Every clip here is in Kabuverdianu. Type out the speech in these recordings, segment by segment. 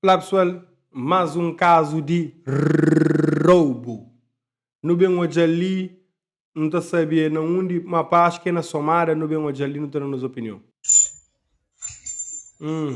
Olá pessoal, mas um caso de roubo nu bem odjal li nu ta sabia na undi ma pa acho que é na somada nu bem odjal li nu ta da nos opinião. Hum.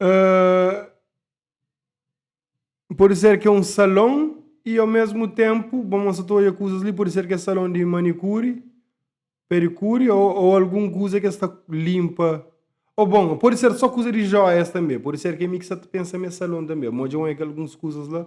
Uh, pode ser que é um salão e ao mesmo tempo, vamos a todas coisas ali, pode ser que é salão de manicure, pericure ou, ou alguma coisa que está limpa. Ou bom, pode ser só coisa de joias também, pode ser que é mixa pensa em salão também, mas já é algumas coisas lá.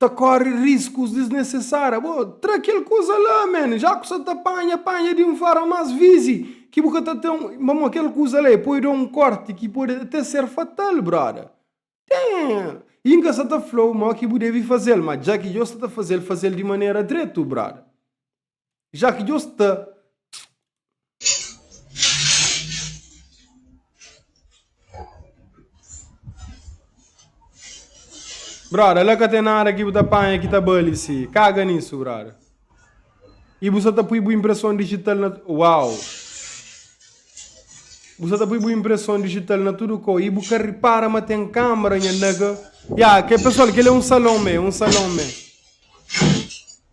ta kóre riskus disnesesáriu. Bo tra kel kuza la, men, já ku sa ta panha, panha di un forma más vizi, ki bu ka ta ten, ma mo kel kuza la é poi da un kórti ki pode até ser fatal, bróda. Ten-l. I N ka sa ta fla-u mó ki bu debe faze-l, má dja ki dja-u sa ta faze-l, faze-l di manera dretu, bróda. Já ki Deus ta. Brother, la ka tem nada ki bu ta panha ki ta bali si. Kaga nisso, brother. E bu sa ta pui bu impressão digital na... Uau! Bu sa ta pui bu impressão digital na tudo co. E bu ka repara ma tem câmera nha nega. Ya, yeah, que pessoal, que ele é um salão, man, um salão, man.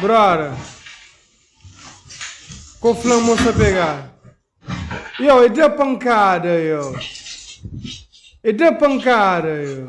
Brother. Ko flan moça pegar. Yo, e dá pancada, yo. E dá pancada, yo.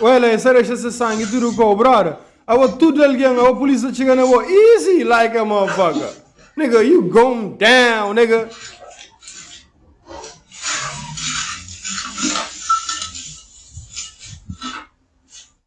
Ué, lá, essa deixa esse sangue tudo com o brother. Agora tudo alguém, agora a polícia chega na boa. Easy like a motherfucker. Nigga, you going down, nigga.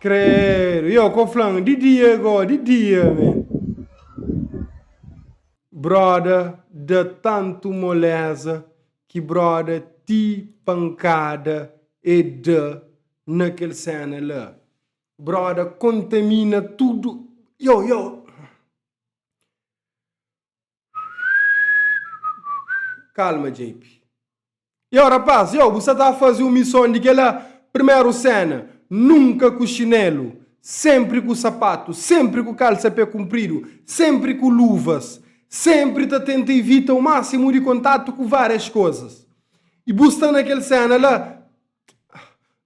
Credo, yo ko flan, di dia go, di dia me. Brother da tantu moleza ki broda ti pankada e da na kel sena la broda kontamina tudu yow yow kalma JP yow rapaz yow bu sa ta fazi un mison di kela primeru sena nunka ku xinelu senpri ku sapatu senpri ku kalsa pé kunpridu senpri ku luvas Senpri ta tenta ivita o másimu di kontatu ku várias kuzas. I bu sta na kel séna la,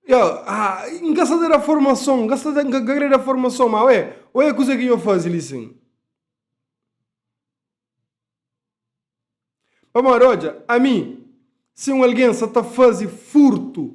Yo, ah, N ka sta ta da formason, N ka sta ta, N ka kre da formason, má ué, oja kuzê ki nho faze li sin. Pamodi, odja, ami, si un algen sta ta faze furtu.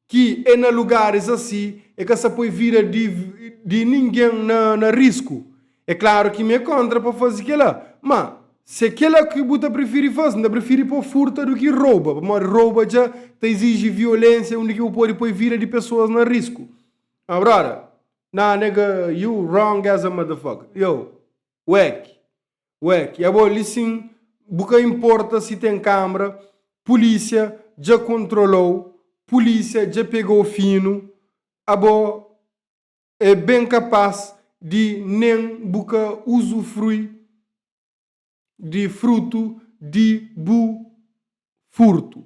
Ki e na lugaris asi, e ka sa poi vida di ningen na risku. E klaru ki mi e kontra pa fasi kela, ma si e kela ki bu ta prifiri fasi, N ta prifiri pa furta du ki roba, pamodi roba dja ta iziji violensia undi ki bu podi poi vida di pesoas na risku. Haa brother, nah nigga, you wrong as a motherfucker, yow, wek, Ué, ki é bo li sin? Bu ka inporta si ten kambra, pulísia dja kontrola-u, pulísia dja pega-u finu, abo é ben kapas di nen bu ka uzufrui di frutu di bu furtu.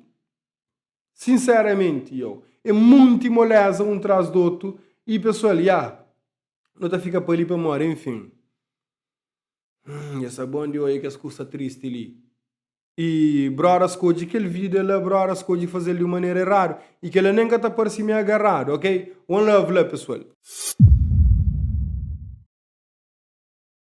Sinseramenti, iau. É munti moléza un tras di otu i pesoal, ya. Nu ta fika pa li pamodi, enfin. Hum, es ta bon di odja kes kusa tristi li. I bróda skodje kel vida la, bróda skodje faze-l di un manera eradu. I kel-la nen ka ta parse mi agarradu, ok? One love la, pesoal.